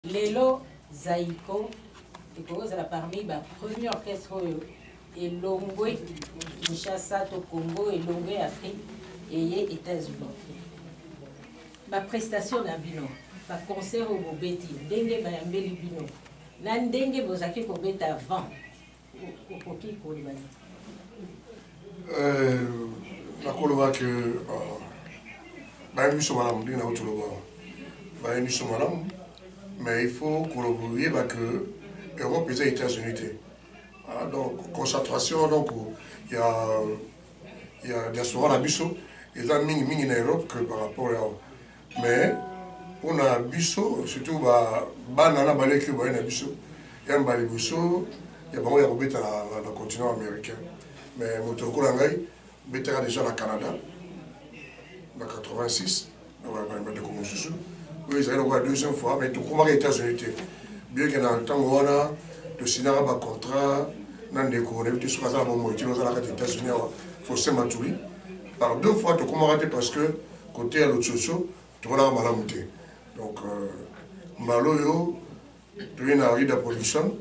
Lelo Zaiko ekoki kozala parmi ba premier orchestre oyo elongwe Kinshasa to Congo, elongwe Afrique eye Etats-Unis. Ba prestations na bino, ba concerts oyo bobeti, ndenge bayambeli bino na ndenge bozalaki kobeta avant, Euh, nakoloba ke euh, bayebi biso malamu ndenge na otoloba bayebi biso malamu mais il faut koyeba ke europe eza états-unis te ah, donc concentration donc ya ya diaspora na biso eza mingi mingi na europe que par rapport ya Mais pona biso surtout ba bana na baleki oyo baye na biso ya mbala liboso ya bango ya kobeta na, na continent américain mais moto lokola ngai betaka deja na Canada na 86 na bandeko mosusu oyo ezali lokola deuxième fois mais tokomaka États-Unis te bien que na ntango wana tosinaka ba contrat na ndeko nayebi te soki aza na bomoi te ozalaka te États-Unis awa Faustin Matuli par deux fois tokomaka te parce que Cote ya lococo tomonaka malamu te donc mbala oyo toye na Rida Production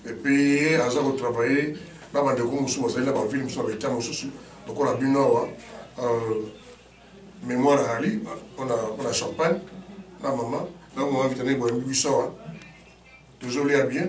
et puis ye aza ko travailler na bandeko mosusu bazali na bavile mosusu na baetat mosusu lokola bino awa euh, mémoire ali mpona champagne na mama na mama vitana eboyambi biso awa tozolia bien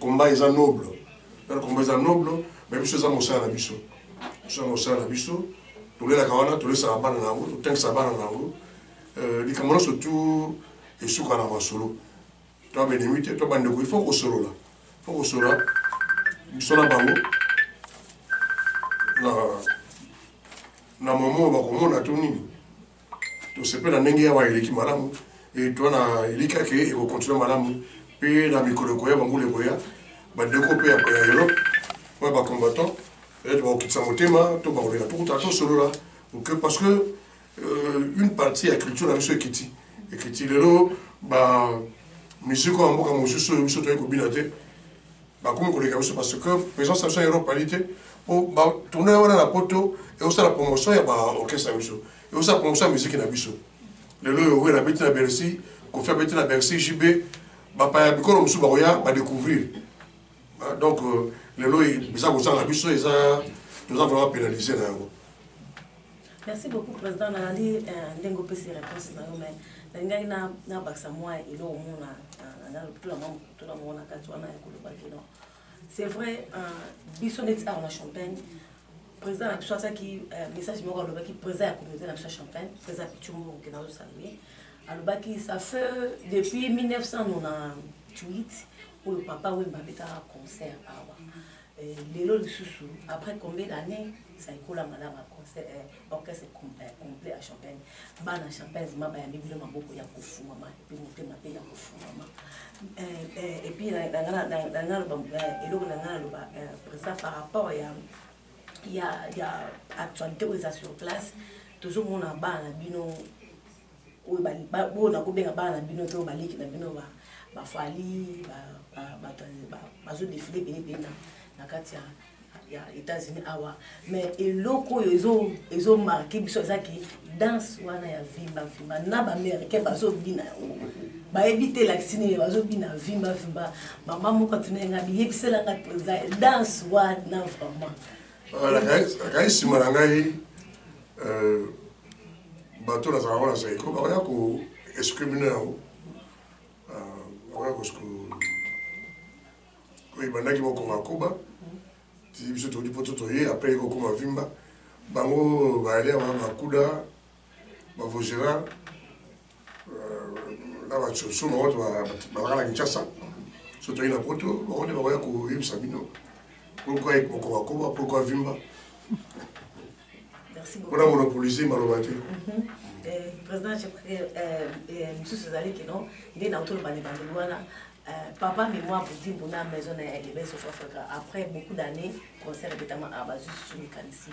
Combat eza noble. Nanu combat eza noble, mais biso eza mosala na biso. Biso eza mosala na biso. Tolelaka wana, tolesaka bana na yango, totangisa bana na yango. Euh, likambo nyonso tu esuka na masolo. To benemi te, to bandeko, il faut kosolola. Il faut kosolola biso na bango. Na na momo bakomona to nini? Tosepeli na ndenge awa eleki malamu e, toa na elikya ke ekokontinue malamu mpe na mikolo ekoya, bambula ekoya, bandeko mpe ya Europe oyo ba combattants peut-etre bakokitisa motema to bakoleka tokuta tosolola okay, parce que euh, une partie ya culture na biso ekiti ekiti lelo ba musique oyo ya mboka mosusu oyo biso toyei kobina te bakomi koleka biso parce que présence na biso ya Europe ali te po ba tournoi wana na poto ekosala promotion ya ba orchestre na biso ekosala promotion ya miziki na biso lelo oyo wela abeti na Bercy Koffi abeti na Bercy JB bapaya bikolo mosusu bakoya badécouvrir ah, donc euh, lelo eza kozanga biso eza toza vraiment pénalise na yango Merci beaucoup president nalandi ndenge opesi reponse na yo mais nalingaki nabakisa mwa eloko mo na lopitula mwa mokutuna moko na kati wana ya koloba kino c'est vrai biso neti awa na champagne président na biso asalaki euh, message moko alobaki président ya communauté na biso ya champagne président ya pichumbu moke na osalue alobaki ça fait depuis 1998 oyo papa wemba abetaka concert awa Lelo lisusu après combien d'annees ça ekola malama concert eh, orchestre complet ya champagne bana champagne vraiment bayambi bino maboko ya kofungwama epuis motema pe ya kofungwama epuis nangaloba eloko nanga naloba président par rapport ya ya ya actualité oyo eza sur place tozomona bana na bino oyo ba oyo na ko benga bana na bino to ba leki na bino ba ba fally ba ba bato ba bazo defile ebele ebele na na kati ya ya etats unis awa mais eloko oyo ezo ezo marke biso eza ke danse wana ya vimba vimba na ba américain bazo bina yango bayebi te elakisi nini bazo bina vimba vimba mama moko atunaki ngai biyebisela ngai mpenza danse wana vraiment akai nsima na ngai euh, Bato na zalaka wana zaiko bako ya ko escriminer yango bako ya ko ko ebandaki boko makoba ti biso todi poto toye après ko koma vimba bango ba aller wana ba kuda ba vogera na basusu bango bazalaka na kinshasa so toyei na poto bango nde bakoya koyebisa bino pourkoi ekokobakoba pourkoi vimba mpona monopolise maloba te mhm. eh, président eh, eh, mosusu ezali kino nde nautoloba na bandeli wana Euh, papa mais moi pour dire mon âme maison na elebe sur Africa après beaucoup d'années concert de tama abazu sur mécanicien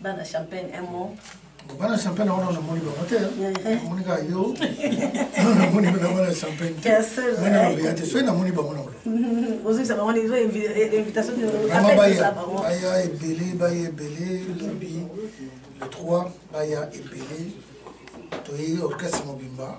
bana champagne un mot bana champagne wana namoni bango te namoni kaka yo namoni na bana champagne te bana babeya te soki namoni bango na olomama baya baya ebele baya ebele lobi le 3 baya ebele toyei orchestre mobimba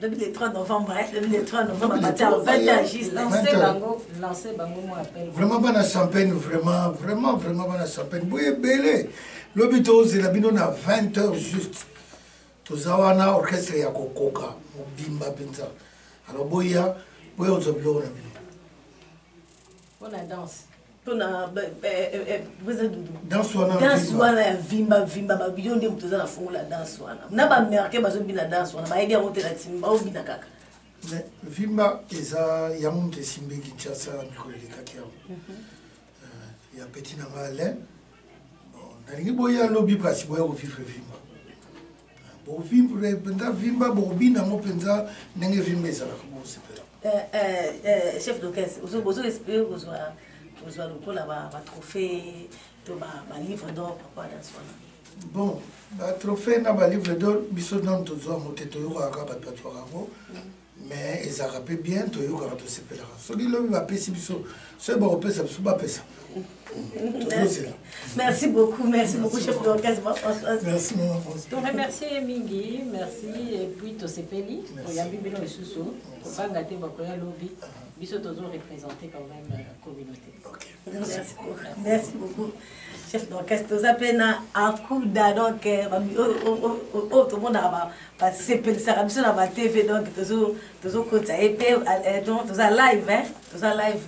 lobi le 3 novembre eh, lobi le 3 novembre batia 20 ans juste lancer bango lancer bango moi appel vraiment bana champagne vraiment vraiment vraiment bana champagne boye belé lobi tozela bino na 20 heures juste toza wana orchestre ya kokoka mobimba mpenza alors boya boya ozwa biloko na bino Pona danse. Pona beza doudou. Danse wana. Danse wana ya vimba vimba ba yo nde mutu eza na fongo la danse wana. Na ba américain bazo bina danse wana bayebi yango te na timba o bina kaka. Mais vimba eza yango mutu esimbi Kinshasa mikolo elekaki yango. Mhm. Euh, ya petit na ngai Alain. Bon, nalingi boya lobi kasi boya ko vivre vimba. Bo vivre penza vimba bo bina ngo penza ndenge vimba ezalaka bo sepela. Eh, eh, eh, chef d'orchestre, ozo bozo espérer kozwa kozwa lokola ba ba trophées to ba ba livres d'or papa dans son Bon, ba trophées na ba livres d'or biso nanu tozwa ngo te toyokaka kaka bato bazwaka ngo. Mais ezalaka pe bien toyokaka tosepelaka soki lobi bapesi biso soki bakopesa biso bapesa tozozela merci beaucoup merci beaucoup chef d'orchestre ma françoise merci mama françoise to remercier ye mingi merci et puis tosepeli oyambi bino lisusu kobanga te bakoya lobi biso tozo représenter quand même euh, communauté okay. Merci beaucoup. Chef d'orchestre, oza pe na akuda donc euh, oyo tomonaka basepelisaka biso na ba TV donc tozokotisa ye pe euh, donc toza live hein, toza live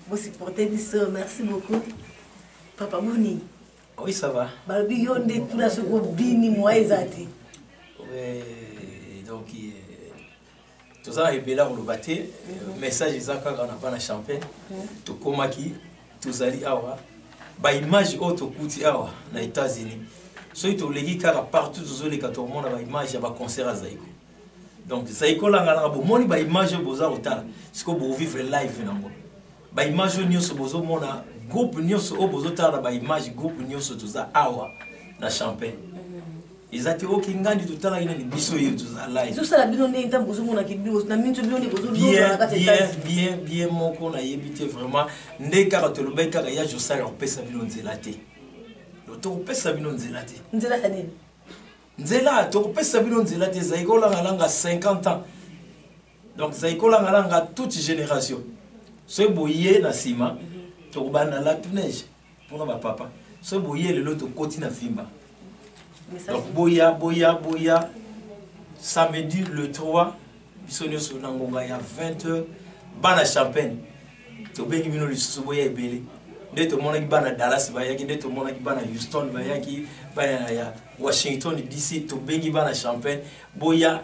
bosupporte biso merci beaucoup papa boni oui ça va balobi yo nde tuna soki obini moye eza te donc euh, toza na ebele ya koloba te message eza kaka na bana champagne tokomaki tozali awa baimage oyo tokuti awa na états-unis soki toleki kaka partout tozoleka tokomona baimage ya baconcert ya zaiko donc zaiko langalanga bomoni baimage oyo boza kotala sikoyo bovivre live nango Ba image oyo nioso bozo mona groupe nioso oyo bozo tala na ba image groupe nioso toza awa na champagne. Mhm. Eza te oki ngandi to tala ina ni biso yo toza live. Zo sala bino ndenge ntango bozo mona ki bino na minto bino ni bozo loba na kati ya Bien bien bien moko na yebi te vraiment ndenge kaka to lobai kaka ya jo sala ko pesa bino nzela te. To to pesa bino nzela te. Nzela ya nini? Nzela to pesa bino nzela te zaiko langa langa 50 ans. Donc Zaiko Langa Langa toute génération. Ce boye na sima tokobanda la tout neige pona ba papa. Ce boye lelo tokoti na fimba. Donc boya boya boya samedi le 3 biso nyonso na ngonga ya 20h bana champagne tobengi bino lisusu boya ebele nde tomonaki bana dallas bayaki nde tomonaki bana houston bayaki bana ya washington dc tobengi bana champagne boya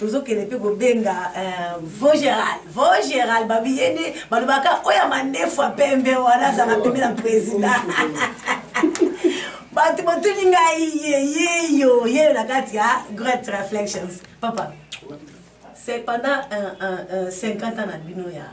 tozokende mpe kobenga uh, vogeral vogeral babi ye nde balobaka oyo ya mandefu ya pembe wana azala pembe na président bato botuni ngai yeyeyo yeyo na kati ya great reflections papa c'est pendant uh, uh, uh, 50 ans na bino ya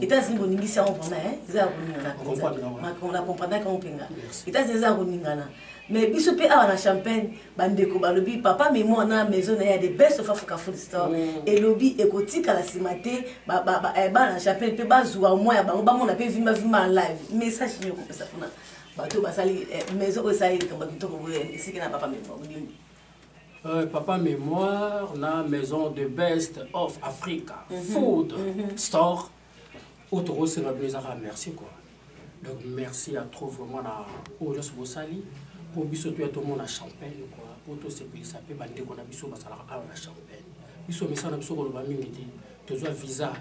États-Unis boningisi yango vraiment hein eza ya koningana mpenza makambo na comprendaki yango mpenza États-Unis eza ya koningana mais biso mpe awa na champagne bandeko balobi papa memo na maison na ye ya the best of africa food store mm. elobi ekotikala nsima te eh, bana na champagne mpe bazwa mwa ya bango bamona mpe vimbavimba live message nini okopesa mpona bato basali eh, maison oyo esali likambo kitoko boye esiki na papa memo Euh, papa memoire na maison de best of africa mm -hmm. food mm -hmm. store oyo tokosenga bino ezaka merci quoi donc merci à trop vraiment na oyo nyonso bosali mpo biso toya tomona champagne quoi mpo tosepelisa mpe bandeko na biso basalaka awa na champagne biso misala biso koloba mingi te tozwa visa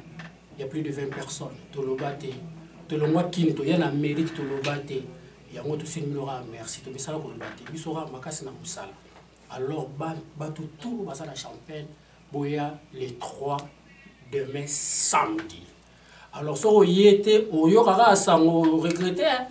ya plus de 20 personnes toloba te tolongwa kini toya na amérique toloba te Yango tosengi bino kaka merci tomesana koloba te biso kaka makasi na mosala alors bato tout oyo baza na champagne boya le 3 demain samedi alors soki oye te oyoka kaka sango regrete hein?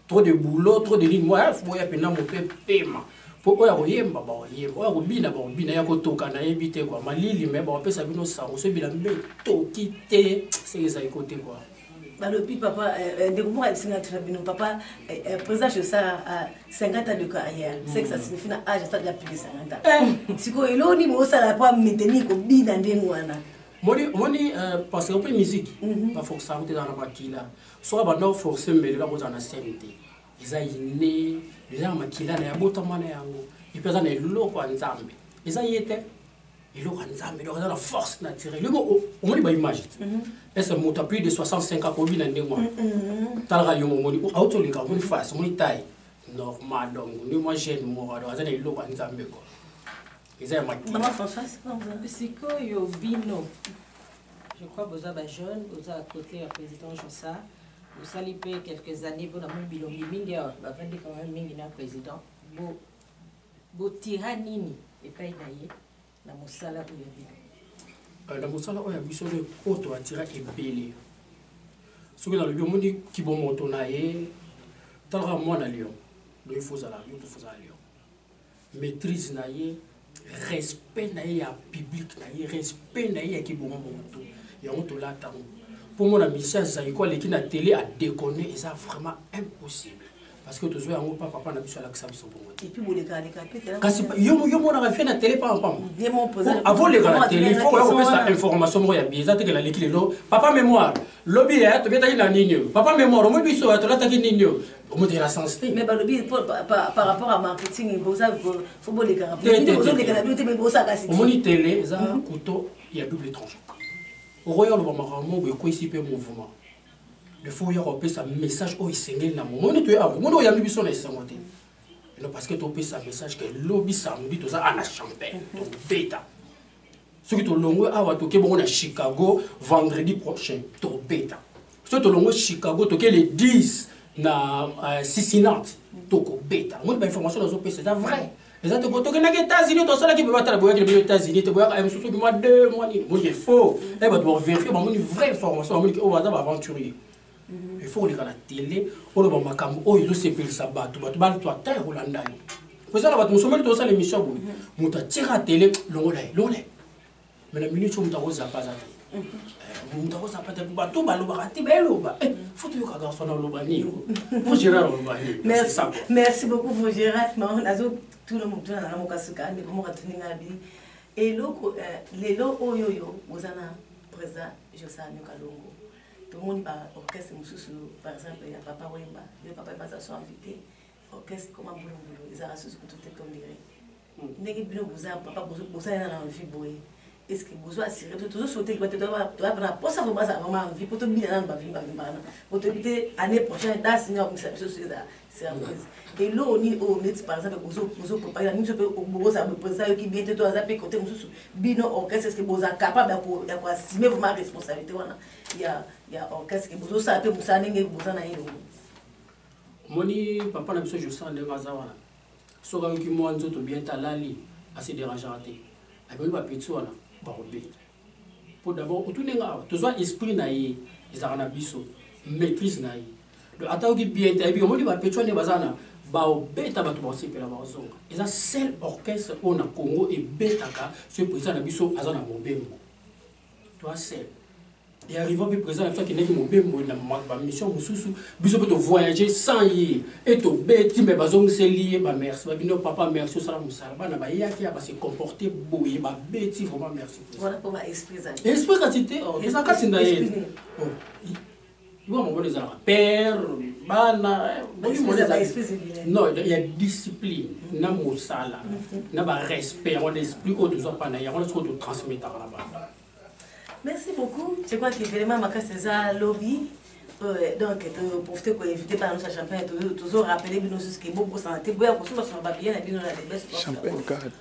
trop de boulot trop de nini moya boya mpena mope pema mpo oyo akoyemba bakoyemba oyo akobina bakobina ya kotoka nayebi te kua malili me bakopesa bino sango soki bilami mpe toki te seke ezali kote kua balobi papa eh, eh, ndeko moko ayebisi ngai tuna bino papa eh, président josar 50 ans de carrière ce que ça mm. signifie na age asala ya plus de 50 ans sikoyo eloko nini bosala mpo amiteni kobina ndenge wana moni moni parce que mpe musique mhm. baforcaka kote ezala na makila soki abanda oforce mbele eloko ozala na scène te eza ine eza na makila na yabotama na yango epe aza na eloko ya nzambe eza ye te eloko ya nzambe donc aza na force naturel yo moko omoni ba image te mhm. est ce que moto plus de 65 akobi na ndenge wana mhm. talaka yo momoni auti oleka omoni face omoni taille normal donc nde mwa jeune moko donc aza na eloko ya nzambe ko eza ya makisikoyo bino je crois boza ba jeune boza à côté ya président josar bosali mpe quelques années mpona mobilo mingi awa bavandi quand même mingi na président bo Botira nini epai na ye na mosala oyo ya bino? Euh, na mosala oyo ya biso nde oyo toatira ebele soki nalobi omoni kibomoto na ye talaka mwana lion donc ifo ozala yo mpe fozala lion maîtrise na ye respect na ye ya public na ye respect na ye ya kibomoto yango tolata yango mpo mona misia zaiko aleki na tele adeconne eza vraiment impossible parce que tozwa yango pa papa na biso alakisa biso bongo te kasi yo monaka vie na tele paapavoleka na tele fo oya kopesa information moko ya bie eza tekela leki lelo papa mémoire lobi ya tobetaki na nini oyo papa mémoire omoi biso ya tolataki nini oyo omotekela sens te omoni tele eza couteau ya double tranche okoya oloba makambo boye ekwesi mpe mouvement il faut oya kopesa message oyo esengeli na momoni toye awa omoni oyambi biso na esengo te elo parce que topesa message ke lobi samedi toza ana champagne tobeta soki tolongwe awa toke bongo na chicago vendredi prochain tobeta soki tolongwe chicago toke le 10 na uh, cincinnati tokobeta omoni bainformation nazopesa eza vrai eza te tokendaki états-unis tosalaki beba tala boyaki na bino états-unis te boyaka eh, mosusu bima deux mois nini moni efaux e eh, bato baverifie bamoni vraie information bamoni oyo oh, baza baaventurier mhm. il faut koleka na tele oloba makambo oyo ezosepelisa bato bato bato ata ya kolanda yo kozala bato mosusu moni tosala émission boye mhm. moto atira tele longola ye longola ye mais na minute oyo moto akozapa aza te moto akozapa te bato balobaka te baeloba fo toyoka garçon na oloba nini fo gérard oloba merci beaucoup fo gérard non nazotuna motu na nanga mokasuka ndeko moko atuni ngai bi eloko lelo oyo oyo oza na président josar nyoka longo tomoni ba orchestre mosusu par exemple ya papa wemba yo papa wemba aza so invité orchestre ekoma mbulumbulu ezalaka susu kutu te tondire Ndenge bino boza ba papa boza nde na envie boye est ce que bozo assurer biso tozo souhaiter que ba tata ba toza pe na posa vraiment bazala vraiment en vie po tobina nanu ba vimba vimba wana po toyebi te annee prochaine danse nini akomisa biso soki eza surprise eloko nini oyo neti par exemple bozo bozo préparer na biso pe bokozala boye président ayoki bien te to aza pe cote mosusu bino orchestre est ce que boza capable ya ko ya ko assumer vraiment responsabilité wana ya ya orchestre que bozo sala pe mosala ndenge boza na ye omoni papa na biso Jocelyn ndenge aza wana Soki ayoki mua nzoto bien te alali a se derangaka te amemi ba petits wana bako beta po d'abord otuni nga awa tozua esprit na ye ezalaka na biso maitrise na ye donc ata ayoki bien te ayebi omoni ba petits wana nde baza na bao beta batu bao sepela bao zonga eza seul orchestre oyo na Congo ebetaka soki president na biso aza na mobembo toi seul et arriva mpe président na biso akendaki mobembo na bamission mosusu biso mpe tovoyage sans ye e tobeti me bazongiseli ye bamerci babino papa merci osala mosala bana bayaki ya base comporte boye babeti vraiment merci esprit kasi te eza kasi na ye Bino mobali ezalaka père, bana, molimo na ezali non ya discipline na mosala na ba respect yango na esprit oyo tozwa mpa na yango na sikoyo totransmetaka na bana. Merci beaucoup. Je crois que vraiment makasi eza lobi. Euh, donc to profiter ko éviter par notre champagne toujours rappeler bino jusque bobo santé boya ko suma suma ba bien na bino na best champagne carte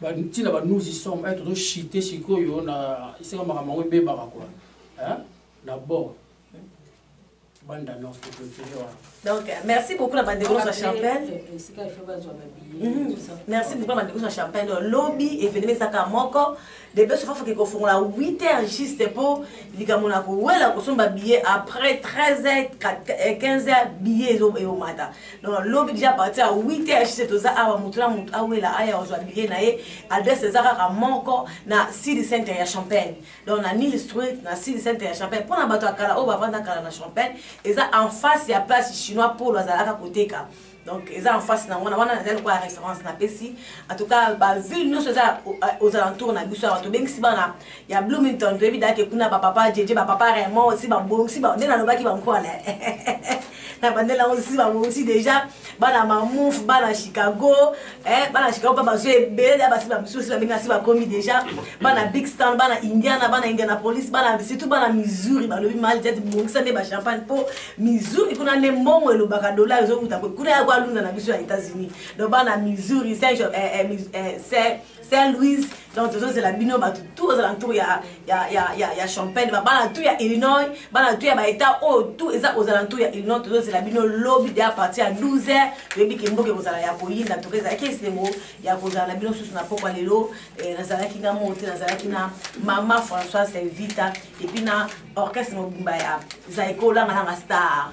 Ba ti na ba nous y sommes eh tozo chute sikoyo na esika makambo yango ebebaka quoi eh na bo bande d'annonce pour clôturer wana donc euh, merci beaucoup na bandeko nyonso ya champagne euh, euh, esika ife bazwa babie mhm. merci beaucoup na bandeko nyonso ya champagne lobi evenema ezaka moko debe sofa foke kofongola 8 heures juste mpo likambo na kowela kosomba billet après 13 heures 15 heures billet eyomata donc lobi deja parti ya 8 heures hc toza awa motu na motu awela aya ozwa billet na ye adresse eza kaka moko na city center ya champagne donc na nil street na city center ya champagne mpo na bato ya kala oyo bavanda kala na champagne eza en face ya place chinois polo azalaka koteka donc eza en face na wana wana nazali lokola référence napesi en tout cas baville nyonso eza aux alentours na biso awa tobengisi bana ya Bloomington toyebi da ke kuna ba papa jeje ba papa Raymond si ba bongsi ba nde nalobaki ba nkwana na bandela ngo si ba bongsi déjà bana mamouf bana Chicago eh bana Chicago pa bazo ebele da basi ba misusu ba benga si ba komi déjà bana Big Star bana Indiana bana Indianapolis bana surtout bana Missouri ba lobi mal jet bongisa nde ba champagne po Missouri kuna nde mbongo elobaka dollar ezo kuta kuna ya kwa luna na biso ya États-Unis donc bana Missouri c'est eh, eh, eh, Saint Louis donc tozozela bino bato tout aux alentours ya, ya, ya, ya, ya champagne babana tout ya illinois bana tout ya baetat oyo oh, tout eza aux alentours ya illinois tozozela bino lobi de aparti ya 12 heures toyebi ke mboka ekozala ya koyinda toka ezalaki esengo ya kozala na bino susu na pokwa lelo eh, nazalaki na moko te nazalaki na mama françois selvita epuis na orchestre mobimba ya zaiko olangalanga star